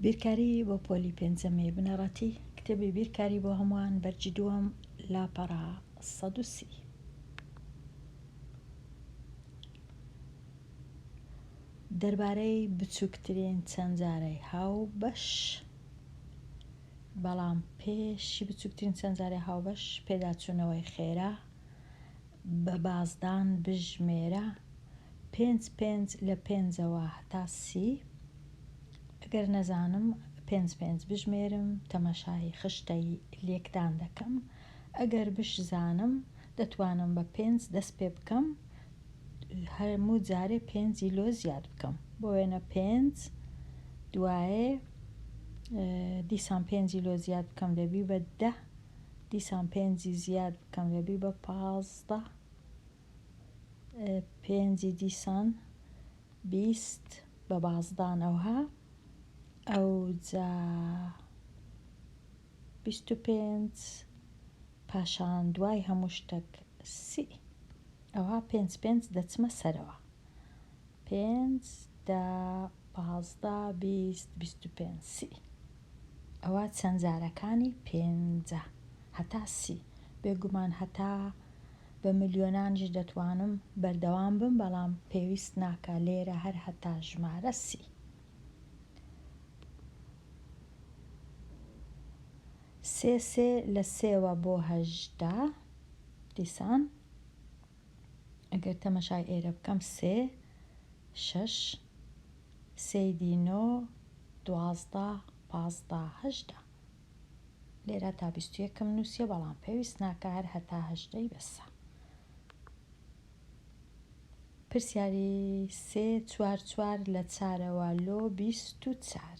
بیرکاری بۆ پۆلی پێنجەمی بنەڕەتی کتێبی بیرکاری بۆ هەمووان بەرجی دووەم لاپەڕە سەد و سی دەربارەی بچووکترین چەند جارەی هاو بەش بەڵام پێشی بچووکترین چەند جارەی هاوبەش پێداچوونەوەی خێرا بە بازدان بژمێرە پێنج پێنج لە پێنجەوە هەتا سی ئەگەر نەزانم پێنج پێنج بژمێرم تەماشای خشتەی لێکدان دەکەم ئەگەر بشزانم دەتوانم بە پێنج دەست پێ بکەم هەموو جارێ پێنجی لۆ زیاد بکەم بۆ وێنە پێنج دوایێ دیسان پێنجی لۆ زیاد بکەم دەبی بە دە دیسان پێنجی زیاد بکەم لەبی بە پازدە پێنجی دیسان بیست بە بازدان ئەوها ئەو جا بیست و پێنج پاشان دوای هەموو شتێک سی ئەوها پێنج پێنج دەچمە سەرەوە پێنج دە پازدە بیست بیست و پێنج سی ئەوا چەند جارەکانی پێنجە هەتا سی بێگومان هەتا بە ملیۆنانیش دەتوانم بەردەوام بم بەڵام پێویست ناکا لێرە هەر هەتا ژمارە سی. سێ سێ لە سێوە بۆ هەژدە دیسان. ئەگەر تەمەشای ئێرە بکەم سێ شەش سێی دی نۆ دوازدە پازدە هەژدە لێرا تا بیست و یەکم نووسیە بەڵام پێویست ناکە هەر هەتا هەژدەی بەسە پرسیاری سێ چوار چوار لە چارەوە لۆ بیست و چار.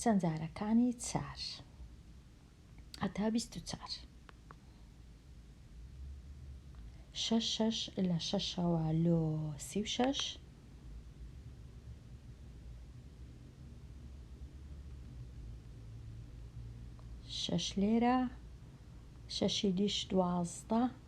چەند جارەکانی چار هەتا بیست و چار شەش شەش لە شەشەوە لۆ سی و شەش شەش لێرە شەشی دیش دوازدە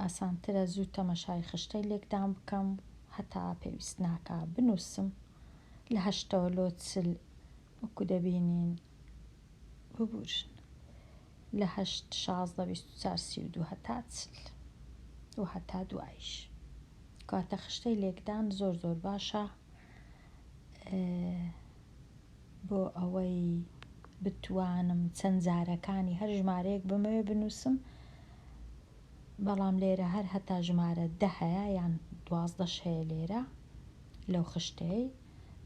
ئاسانترە زوو تەمەشای خشتەی لێکدان بکەم هەتا پێویست ناکا بنووسم لە هەشتەوە لۆ چل وەکو دەبینین ببورن لە هەشت شازدە بیست و چار سی و دوو هەتا چل و هەتا دوایش کاتە خشتەی لێکدان زۆر زۆر باشە بۆ ئەوەی بتوانم چەند جارەکانی هەر ژمارەیەک بمەوێ بنووسم بەڵام لێرە هەر هەتا ژمارە دە هەیە یان دوازدەش هەیە لێرە لەو خشتەی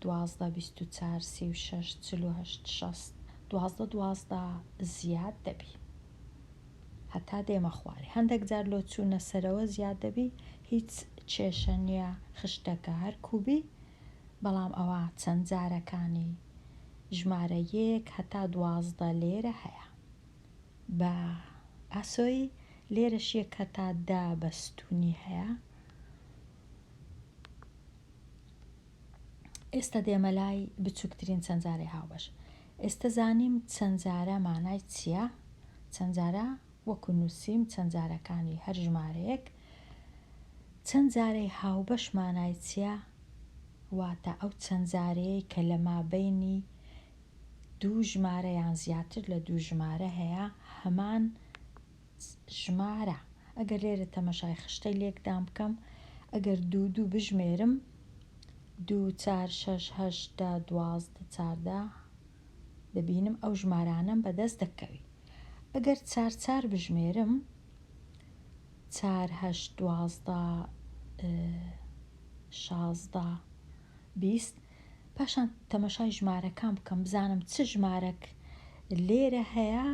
دوازدە بیست و چار سی و شەش چل و هەشت شەست دوازدە دوازدە زیاد دەبی هەتا دێمە خوارێ هەندەک جار لۆ چوونە سەرەوە زیاد دەبی هیچ کێشە نییە خشتەکە هەر کوبی بەڵام ئەوە چەند جارەکانی ژمارە یەک هەتا دوازدە لێرە هەیە بە ئاسۆی لێرەش یەک هەتا دە بە ستوونی هەیە ئێستە دێمە لای بچووکترین چەندجارەی هاوبەش ئێستە زانیم چەندجارە مانای چییە چەندجارە وەکو نووسیم چەندجارەکانی هەر ژمارەیەک چەندجارەی هاوبەش مانای چییە واتە ئەو چەندجارەیەی کە لە مابینی دوو ژمارە یان زیاتر لە دوو ژمارە هەیە هەمان ژمارە ئەگەر لێرە تەمەشای خشتەی لێکدان بکەم ئەگەر دوو دوو بژمێرم دوو چار شەش هەشت دە دوازدە چاردە دەبینم ئەو ژمارانەم بەدەست دەکەوی ئەگەر چار چار بژمێرم چار هەشت دوازدە شازدە بیست پاشان تەمەشای ژمارەکان بکەم بزانم چ ژمارەک لێرە هەیە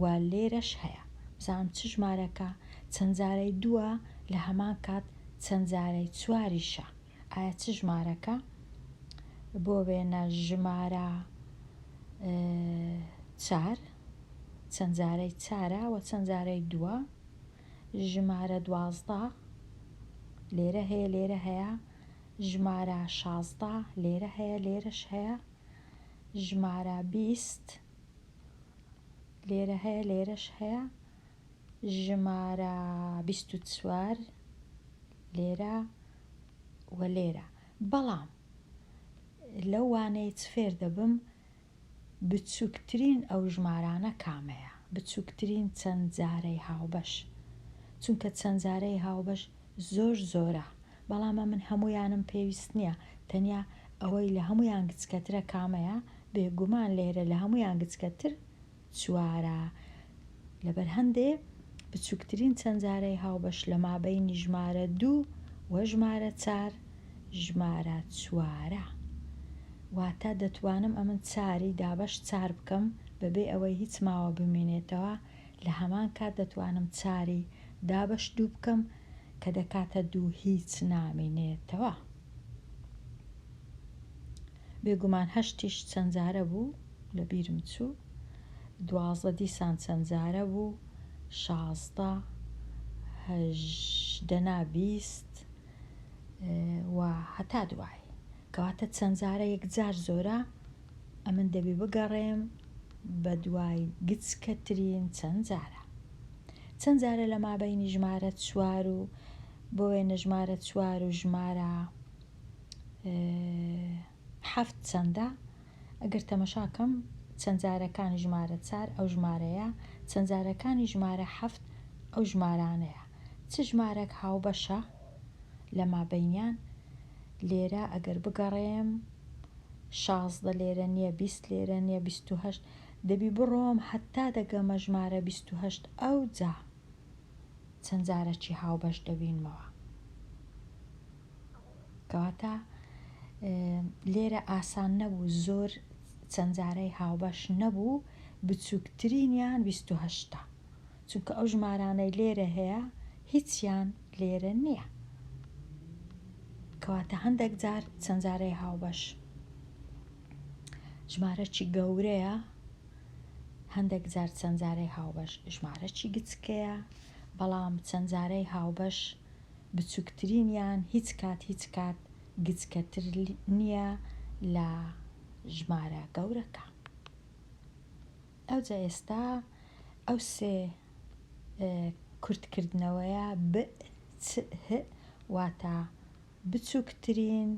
و لێرەش هەیە بزانم چ ژمارەکە چەند جارەی دووە لە هەمان کات چەند جارەی چواریشە ئایا چ ژمارەکە بۆ وێنە ژمارە چار چەند جارەی چارە و چەند جارەی دووە ژمارە دوازدە لێرە هەیە لێرە هەیە ژمارە شازدە لێرە هەیە لێرەش هەیە ژمارە بیست لێرە هەیە لێرەش هەیە ژمارە بیست و چوار لێرە و لێرە بەڵام لەو وانەیە چ فێر دەبم بچوکترین ئەو ژمارانە کامەیە؟ بچوکترین چەند جارەی هاوبەش؟ چونکە چەند جارەی هاوبەش زۆر زۆرە بەڵام ئەمن هەموویانم پێویست نیە تەنیا ئەوەی لە هەموویان گچکەترە کامەیە؟ بێگومان لێرە لە هەموویان گچکەتر چوارە، لەبەر هەندێ بچووکترین چەندجارەی هاوبەش لە مابەینی ژمارە دوو و ژمارە چار ژمارە چوارە. واتە دەتوانم ئەمن چاری دابەش چار بکەم بەبێ ئەوەی هیچ ماوە بمینێتەوە، لە هەمان کات دەتوانم چاری دابەش دوو بکەم کە دەکاتە دوو هیچ نامینێتەوە. بێگومان هەشتیش چەند جارە بوو لەبیرم چوو دوازدە دیسان چەند جارە بوو شازدە هەژدە نا بیست و هەتا دوایی کەواتە چەند جارە یەکجار زۆرە ئەمن دەبی بگەڕێم بەدوای گچکەترین چەند جارە چەند جارە لە مابەینی ژمارە چوار و بۆ وێنە ژمارە چوار و ژمارە حەفت چەندە؟ ئەگەر تەمەشا کەم چەندجارەکانی ژمارە چار ئەو ژمارەیە، چەندجارەکانی ژمارە حەفت ئەو ژمارانەیە. چ ژمارەک هاوبەشە لە مابەینیان؟ لێرە ئەگەر بگەڕێم شازدە لێرە نییە، بیست لێرە نییە، بیست و هەشت، دەبی بڕۆم هەتا دەگەمە ژمارە بیست و هەشت، ئەوجا چەندجارەکی هاوبەش دەبینمەوە. کەواتە لێرە ئاسان نەبوو زۆر چەند جارەی هاوبەش نەبوو بچووکترینیان بیست و هەشتە چونکە ئەو ژمارانەی لێرە هەیە هیچیان لێرە نییە کەواتە هەندێک جار چەند جارەی هاوبەش ژمارەی گەورەیە هەندێک جار چەند جارەی هاوبەش ژمارەی گچکەیە بەڵام چەند جارەی هاوبەش بچوکترینیان هیچ کات هیچ کات گچکەتر نیە لە ژمارە گەورەکە. ئەوجا ئێستا ئەو سێ کورتکردنەوەیە ب چ ه واتە بچوکترین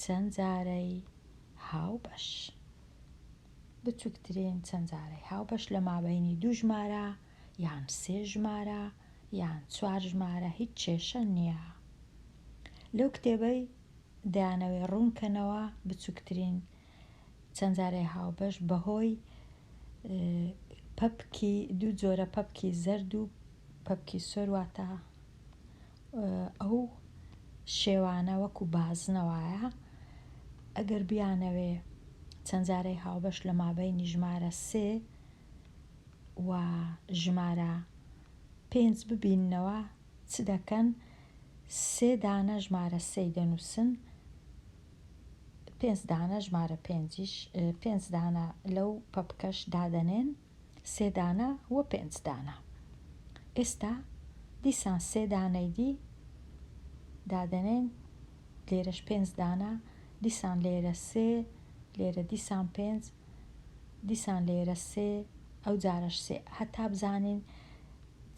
چەند جارەی هاوبەش. بچوکترین چەند جارەی هاوبەش لە مابەینی دوو ژمارە یان سێ ژمارە یان چوار ژمارە هیچ کێشە نییە لەو کتێبەی دەیانەوێ ڕوونکەنەوە بچووکترین چەند جارەی هاوبەش بەهۆی پەپکی دوو جۆرە پەپکی زەرد و پەپکی سۆر واتە ئەو شێوانە وەکو بازنەوەیە ئەگەر بیانەوێ چەند جارەی هاوبەش لە مابەینی ژمارە سێ و ژمارە پێنج ببیننەوە چ دەکەن سێ دانە ژمارە سێی دەنووسن پێنج دانە ژمارە پێنجیش پێنج دانە لەو پەپکەش دادەنێن سێ دانە و پێنج دانە ئێستا دیسان سێ دانەی دی دادەنێن لێرەش پێنج دانە دیسان لێرە سێ لێرە دیسان پێنج دیسان لێرە سێ ئەو جارەش سێ هەتا بزانین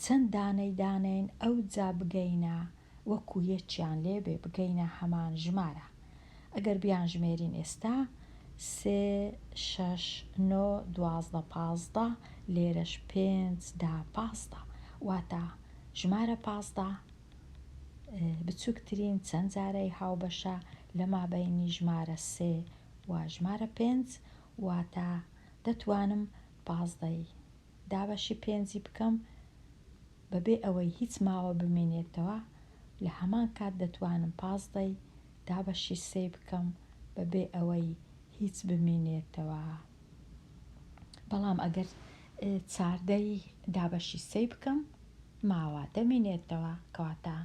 چەند دانەی دانێین ئەو جا بگەینە وەکو یەکیان لێ بێ بگەینە هەمان ژمارە ئەگەر بیان ژمێرین ئێستا سێ شەش نۆ دوازدە پازدە لێرەش پێنج دا پازدە واتە ژمارە پازدە بچووکترین چەند جارەی هاوبەشە لە مابەینی ژمارە سێ و ژمارە پێنج واتە دەتوانم پازدەی دابەشی پێنجی بکەم بەبێ ئەوەی هیچ ماوە بمینێتەوە لە هەمان کات دەتوانم پازدەی دابەشی سێی بکەم بەبێ ئەوەی هیچ بمینێتەوە بەڵام ئەگەر چاردەی دابەشی سێی بکەم ماوە دەمینێتەوە کەواتە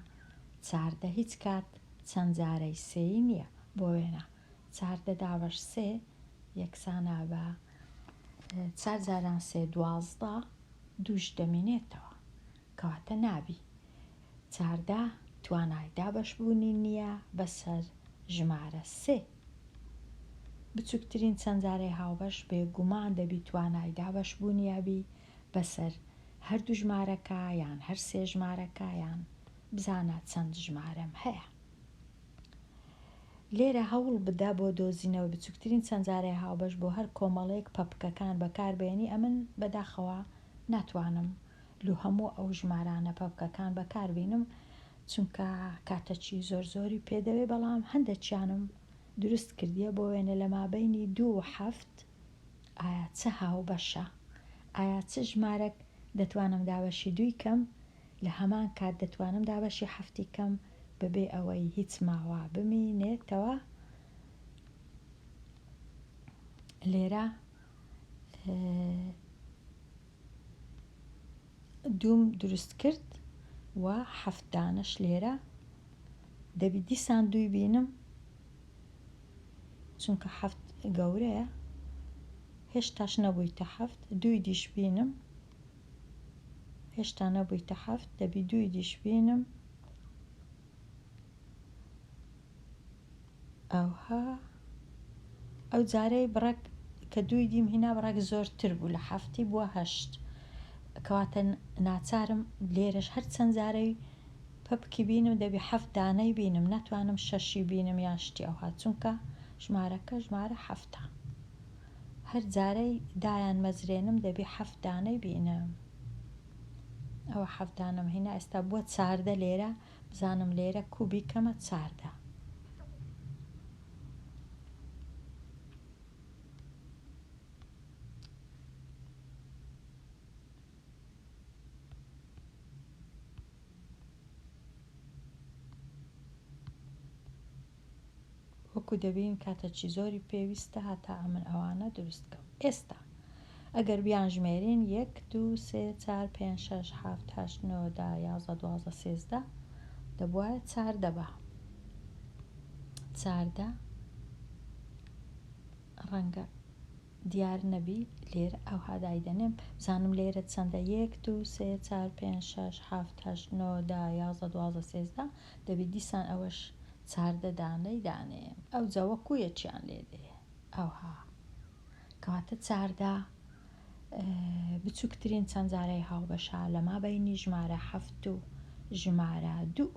چاردە هیچ کات چەند جارەی سێی نییە بۆ وێنە چار دە داوەش سێ یەکسانە بە چار جاران سێ دوازدە دووش دەمینێتەوە کەواتە نابی چاردە توانای دابەش بوونی نیە بەسەر ژمارە سێ بچوکترین چەنجارەی هاوبەش بێگومان دەبی توانای دابەش بوونیا بی بەسەر هەردوو ژمارەکە یان هەر سێ ژمارەکە یان بزانە چەند ژمارەم هەیە. لێرە هەوڵ بدە بۆ دۆزینەوەی بچوکترین چەند جارەی هاوبەش بۆ هەر کۆمەڵەیەک پەپکەکان بەکاربێنی ئەمن بەداخەوە ناتوانم لۆ هەموو ئەو ژمارانە پەپکەکان بەکاربینم چونکە کاتەکی زۆر زۆری پێ دەوێ بەڵام هەندەکیانم دروست کردیە بۆ وێنە لە مابەینی دوو و حەفت ئایا چ هاوبەشە ئایا چ ژمارەک دەتوانم دابەشی دووی کەم لە هەمان کات دەتوانم دابەشی حەفتی کەم بەبێ ئەوەی هیچ ماوا بمینێتەوە لێرە دووم دروست کرد و حەفت دانەش لێرە دەبی دیسان دووی بینم چونکە حەفت گەورەیە هێشتاش نەبوویتە حەفت دووی دیش بینم هێشتا نەبوویتە حەفت دەبی دووی دیش بینم ئەوها ئەو جارەی بڕەک کە دووی دیم هینا بڕەک زۆرتر بوو لە حەفتی بووە هەشت کەواتە ناچارم لێرەش هەر چەند جارەی پەپکی بینم دەبی حەفت دانەی بینم ناتوانم شەشی بینم یان شتی ئەوها چونکە ژمارەکە ژمارە حەفتە هەر جارەی دایان مەزرێنم دەبی حەفت دانەی بینم ئەوە حەفت دانەم هینا ئێستا بووە چاردە لێرە بزانم لێرە کو بیکەمە چاردە وەکو دەبین کاتەچی زۆری پێویستە هاتا ئەمن ئەوانە دروست کەم ئێستا ئەگەر بیان ژمێرین یەک دوو سێ چار پێنج شەش حەفت هەشت نۆ دا یازدە دوازدە سێزدە دەبوایە چاردە با چاردە ڕەنگە دیار نەبی لێرە ئەوها دایدەنێم بزانم لێرە چەندە یەک دوو سێ چار پێنج شەش حەفت هەشت نۆ دا یازدە دوازدە سێزدە دەبی دیسان ئەوەش چاردە دانەی دانێ ئەوجا وەکو یەکیان لێ دێ ئەوها کەواتە چاردە بچوکترین چەند جارەی هاوبەشە لە مابەینی ژمارە هەفت و ژمارە دوو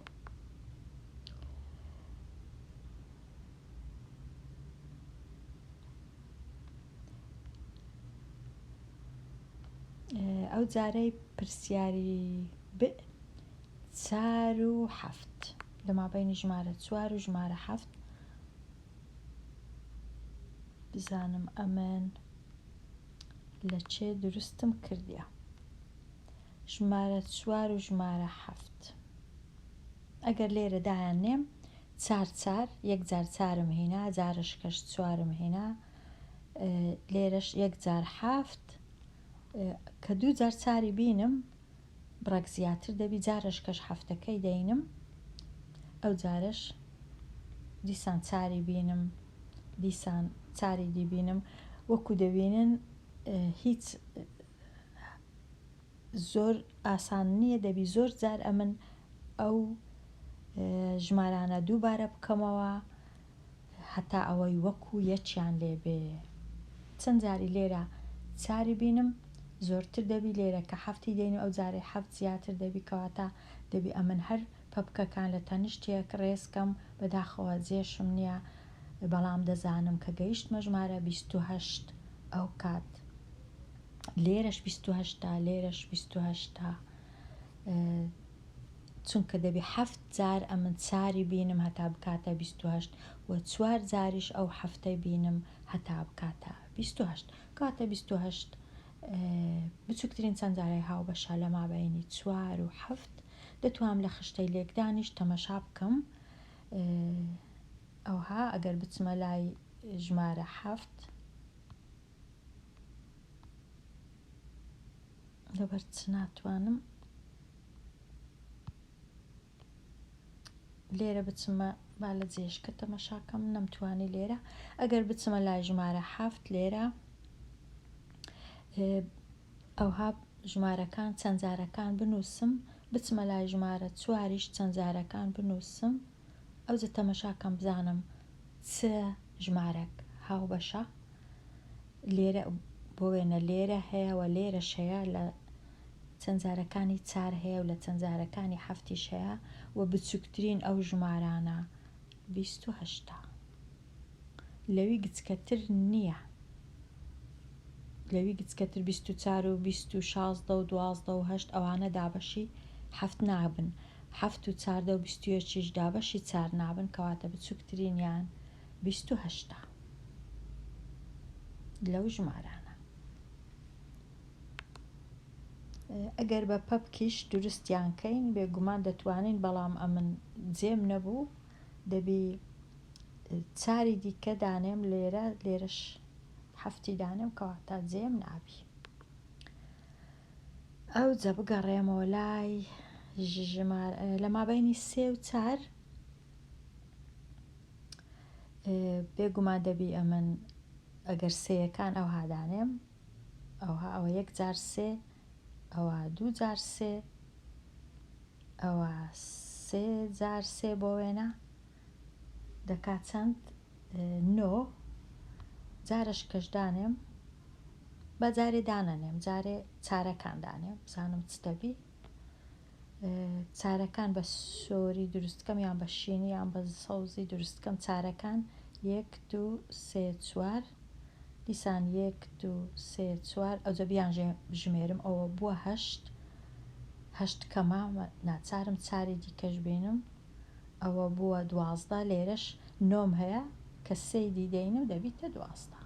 ئەو جارەی پرسیاری ب چار و حەفت لە مابەینی ژمارە چوار و ژمارە حەفت بزانم ئەمن لە چێ دروستم کردیە ژمارە چوار و ژمارە حەفت ئەگەر لێرە دایان نێم چار چار یەک جار چارم هینا جارش کەش چوارم هینا لێرەش یەک جار حافت کە دوو جار چاری بینم بڕێک زیاتر دەبی جارەش کەش حەفتەکەی دەینم ئەوجارەش دیسان چاری بینم دیسان چاری دی بینم وەکو دەبینن هیچ زۆر ئاسان نییە دەبی زۆر جار ئەمن ئەو ژمارانە دووبارە بکەمەوە هەتا ئەوەی وەکو یەکیان لێ بێ چەن جاری لێرە چاری بینم زۆرتر دەبی لێرە کە حەفتی دێن و ئەو جارەی حەفت زیاتر دەبی کەواتە دەبی ئەمن هەر پەپکەکان لە تەنیشتێک ڕێز کەم بەداخەوە جێشم نیە بەڵام دەزانم کە گەیشتمە ژمارە بیست و هەشت ئەو کات لێرەش بیست و هەشتە لێرەش بیست و هەشتە. چونکە دەبی حەفت جار ئەمن چاری بینم هەتا بکاتە بیست و هەشت و چوار جاریش ئەو حەفتەی بینم هەتا بکاتە بیست و هەشت کاتە بیست و هەشت بچوکترین چەند جارای هاوبەشە لە مابەینی چوار و حەفت دەتوانم لە خشتەی لێکدانیش تەمەشا بکەم ئەوها ئەگەر بچمە لای ژمارە حەفت لەبەر چ ناتوانم لێرە بچمە با لە جێشکە تەمەشاکەم نەمتوانی لێرە ئەگەر بچمە لای ژمارە حافت لێرە ئەوها ژمارەکان چەندجارەکان بنووسم بچمە لای ژمارە چواریش چەندجارەکان بنووسم ئەوجە تەمەشا کەم بزانم چ ژمارەک هاوبەشە لێرە بۆ وێنە لێرە هەیە و لێرەش هەیە لە چەند جارەکانی چار هەیە و لە چەند جارەکانی حەفتیش هەیە و بچووکترین ئەو ژمارانە بیست و هەشتا لەوی گچکەتر نیە لەوی گچکەتر بیست و چار و بیست و شازدە و دوازدە و هەشت ئەوانە دابەشی حەفت نابن حەفت و چاردە و بیست و یەکیش دابەشی چار نابن کەواتە بچوکترینیان بیست و هەشتە لەو ژمارانە ئەگەر بە پەپکیش دروستیان کەین بێگومان دەتوانین بەڵام ئەمن جێم نەبوو دەبی چاری دیکە دانێم لێرە لێرەش حەفتی دانێم کەواتە جێم نابی ئەو جە بگەڕێمەوە لای ژمار لە مابینی سێ و چار بێگومان دەبی ئەمن ئەگەر سەیەکان ئەو هادانێم ئەوها ئەوە یەک جار سێ ئەوا دوو جار سێ ئەوا سێ جار سێ بۆ وێنە دەکات چەند نۆ جارش کەشدانێم بە جارێ دانەنێم جارێ چارەکان دانێم بزانم چ دەبی چارەکان بە سۆری دروست بکەم یان بە شینی یان بە سەوزی دروست بکەم چارەکان یەک دوو سێ چوار دیسان یەک دوو سێ چوار ئەوجە بیان ژمێرم ئەوە بووە هەشت هەشت کەمە ناچارم چاری دیکەش بینم ئەوە بووە دوازدە لێرەش نۆم هەیە کە سێی دیدەینم دەبیتە دوازدە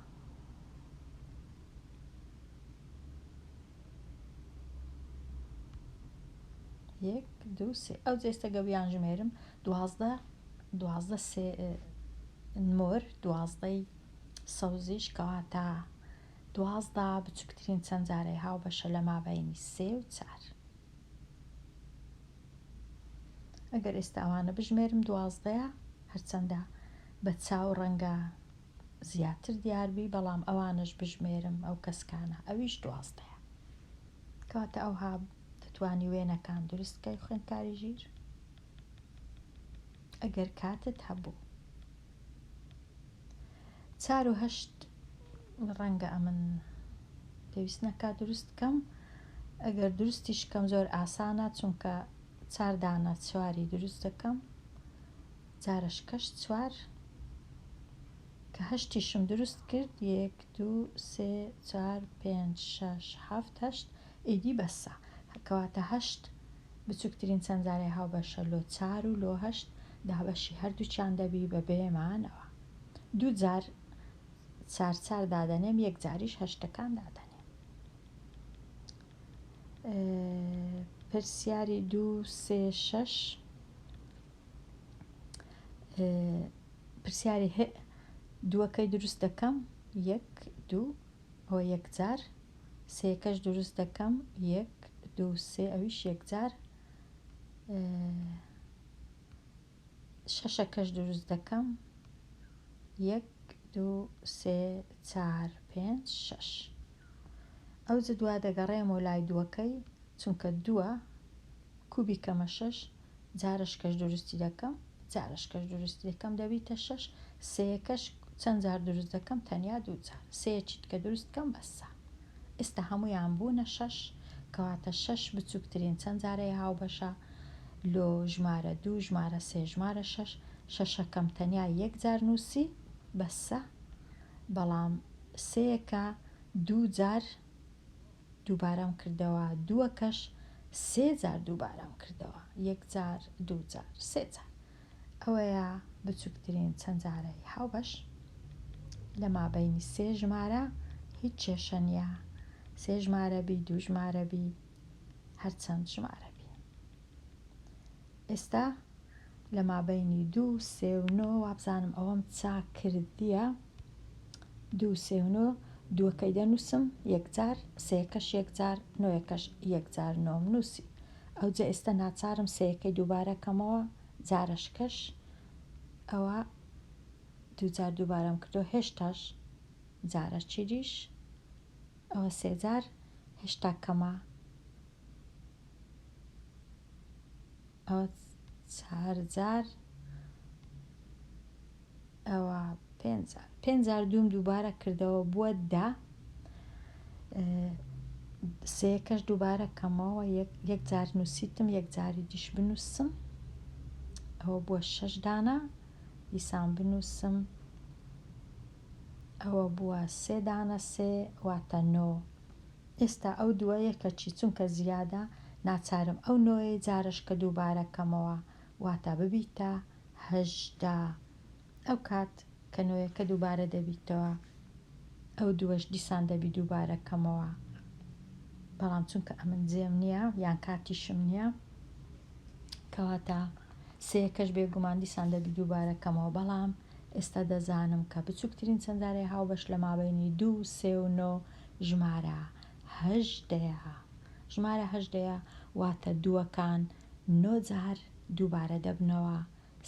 یەک دوو سێ ئەو جێستە گەویان ژمێرم دوازدە دوازدە سێ مۆر دوازدەی سەوزیش کەواتە دوازدا بچووکترین چەند جارەی هاو بەشە لە مابینی سێ و چار ئەگەر ئێستاوانە بژمێرم دوازدەیە هەرچەندە بە چاو ڕەنگە زیاتر دیار بی بەڵام ئەوانەش بژمێرم ئەو کەسکانە ئەویش دوازدەیە کەواتە ئەوها دەتوانی وێنەکان دروست کەی خوێندکاری ژیر ئەگەر کاتت هەبوو چار و هەشت ڕەنگە ئەمن پێویست نەکات دروست کەم ئەگەر دروستیش کەم زۆر ئاسانە چونکە چاردانە چواری دروست دەکەم جارە شکەش چوار کە هەشتیشم دروست کرد یەک دوو سێ چوار پێنج شەش حەفت هەشت ئیدی بەسە کەواتە هەشت بچوکترین چەندزارەی هاوبەشە لۆ چار و لۆ هەشت دابەشی هەردووکیان دەبی بە بێ مانەوە دوو جار چار چار دادەنێم یەک جاریش هەشتەکان دادەنێم پرسیاری دوو سێ شەش پرسیاری هئ دووەکەی دروست دەکەم یەک دوو ئەوە یەکجار سێکەش دروست دەکەم یەک دوو سێ ئەویش یەکجار شەشەکەش دروست دەکەم یەک دوو سێ چار پێنج شەش ئەو جدوا دەگەڕێمەوە لای دووەکەی چونکە دووە کوبی کەمە شەش جارەش کەش دروستی دەکەم جارەش کەش دروستی دەکەم دەبیتە شەش سێیەکەش چەند جار دروست دەکەم تەنیا دوو جار سێیەکی دیکە دروست کەم بەسە ئێستا هەموویان بوونە شەش کەواتە شەش بچووکترین چەند جارەیە هاوبەشە لۆ ژمارە دوو ژمارە سێ ژمارە شەش شەشەکەم تەنیا یەک جار نووسی بەسە بەڵام سێیەکە دوو جار دووبارەم کردەوە دووەکەش سێ جار دووبارەم کردەوە یەک جار دوو جار سێ جار ئەوەیە بچووکترین چەند جارەی هاوبەش لە مابینی سێ ژمارە هیچ کێشە نییە سێ ژمارە بی دوو ژمارە بی هەرچەند ژمارە بی ئێستا لە مابەینی دوو سێ و نۆ وابزانم ئەوەم چاکردیە دوو سێ و نۆ دووەکەی دەنووسم یەکجار سێکەش یەکجار نۆیەکەش یەکجار نۆم نووسی ئەوجە ئێستا ناچارم سێەکەی دووبارەکەمەوە جارشکەش ئەوە دووجار دووبارەم کردو هێشتاش جارە چیدیش ئەوە سێجار هەشتا کەمە ئەوە چار جار ئەوە پێنجار پێنجار دووم دووبارە کردەوە بووە دە سێکەش دووبارە کەمەوە یەک جار نووسیتم یەک جاری دیش بنووسم ئەوە بووە شەش دانە دیسان بنووسم ئەوە بووە سێ دانە سێ واتە نۆ ئێستا ئەو دووە یەکە چی چونکە زیادە ناچارم ئەو نۆیەی جارەشکە دووبارە بکەمەوە واتە ببیتە هەژدە ئەو کات کە نۆیەکە دووبارە دەبیتەوە ئەو دووەش دیسان دەبی دووبارە بکەمەوە بەڵام چونکە ئەمن جێم نییە یان کاتیشم نییە کەواتە سێیەکەش بێگومان دیسان دەبی دووبارە بکەمەوە بەڵام ئێستا دەزانم کە بچووکترین چەندارەی هاوبەش لە مابەینی دوو و سێ و نۆ ژمارە هەژدەیە. ژمارە هەژدەیە واتە دووەکان نۆ جار دووبارە دەبنەوە،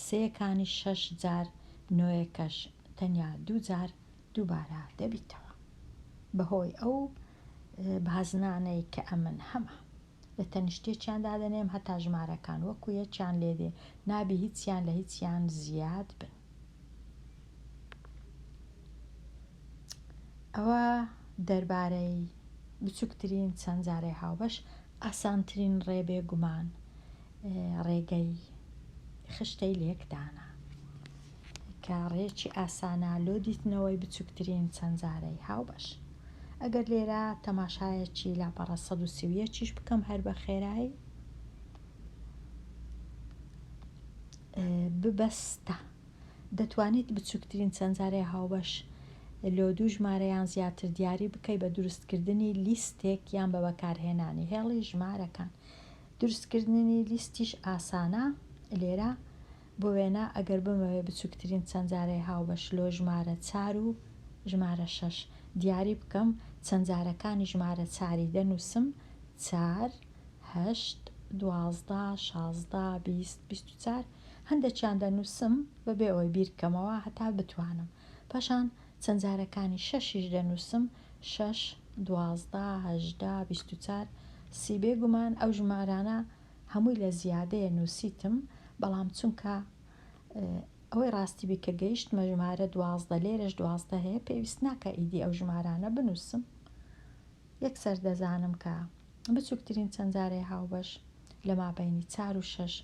سێیەکانیش شەش جار، نۆیەکەش تەنیا دوو جار دووبارە دەبیتەوە. بەهۆی ئەو بازنانەی کە ئەمن هەمە. لە تەنیشتێکیان دادەنێم هەتا ژمارەکان وەکو یەکیان لێدێ نابی هیچیان لە هیچیان زیاد بن ئەوە دەربارەی بچووکترین چەند جارەی هاوبەش ئاسانترین ڕێ بێ گومان ڕێگەی خشتەی لێکدانە کە ڕێکی ئاسانە لۆ دیتنەوەی بچوکترین چەند زارەی هاوبەش. ئەگەر لێرە تەماشایەکی لاپەڕە سەد و سی و یەک یش بکەم هەر بە خێرایی، ببەستە، دەتوانیت بچوکترین چەند زارەی هاوبەش لۆ دوو ژمارە یان زیاتر دیاری بکەی بە دروست کردنی لیستێک یان بە بەکارهێنانی هێڵی ژمارەکان. دروست کردنی لیستیش ئاسانە، لێرە بۆ وێنە ئەگەر بمەوێ بچووکترین چەندجارەی هاوبەش لۆ ژمارە چار و ژمارە شەش دیاری بکەم، چەندجارەکانی ژمارە چاری دەنووسم، چار، هەشت، دوازدە، شازدە، بیست، بیست و چار، هەندێکیان دەنووسم بەبێ ئەوەی بیر بکەمەوە هەتا بتوانم، پاشان چەندجارەکانی شەشیش دەنووسم، شەش، دوازدە، هەژدە، بیست و چار، سی، بێگومان ئەو ژمارانە هەمووی لە زیادەیە نوسیتم بەڵام چونکە ئەوەی ڕاستی بی کە گەیشتمە ژمارە دوازدە لێرەش دوازدە هەیە پێویست ناکە ئیدی ئەو ژمارانە بنووسم یەکسەر دەزانم کە بچووکترین چەند جارەی هاوبەش لە مابینی چار و شەش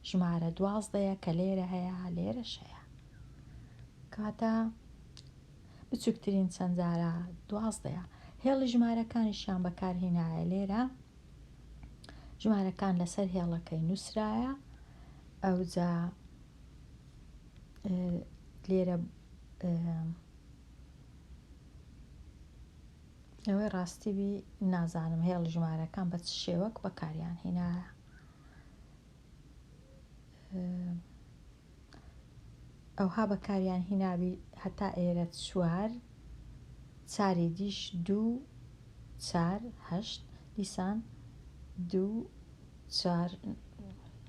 ژمارە دوازدەیە کە لێرە هەیە لێرەش هەیە کاتە بچووکترین چەند جارە دوازدەیە هێڵی ژمارەکانیشیان بەکارهینایە لێرە ژمارەکان لەسەر هێڵەکەی نووسرایە ئەوجا لێرە ئەوەی ڕاستی بی نازانم هێڵ ژمارەکان بە چ شێوەک بەکاریان هێنایە ئەوها بەکاریان هیناوی هەتا ئێرە چوار چاری دیش دوو چار هەشت دیسان دوو چار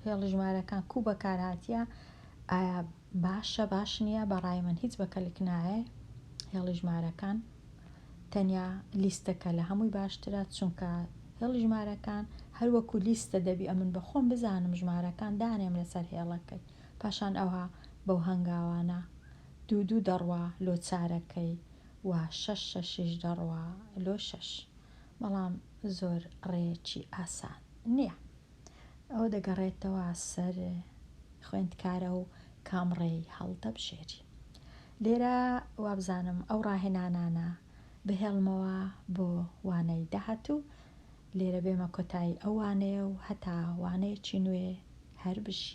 هێڵی ژمارەکان کو بەکار هاتیە ئایا باشە باش نییە بەڕای من هیچ بەکەلک نایە هێڵی ژمارەکان تەنیا لیستەکە لە هەمووی باشترە چونکە هێڵی ژمارەکان هەروەکو لیستە دەبی ئەمن بە خۆم بزانم ژمارەکان دانێم لەسەر هێڵەکەی پاشان ئەوها بەو هەنگاوانە دوو دوو دەڕوا لۆ چارەکەی و شەش شەشیش دەڕوا لۆ شەش بەڵام زۆر ڕێیەکی ئاسان نییە ئەوە دەگەڕێتەوە سەر خوێندکارە و کام ڕێی هەڵدەبژێری لێرە وابزانم ئەو ڕاهێنانانە بهێڵمەوە بۆ وانەی داهاتوو لێرە بێمە کۆتایی ئەو وانەیە و هەتا وانەیەکی نوێ هەر بژی.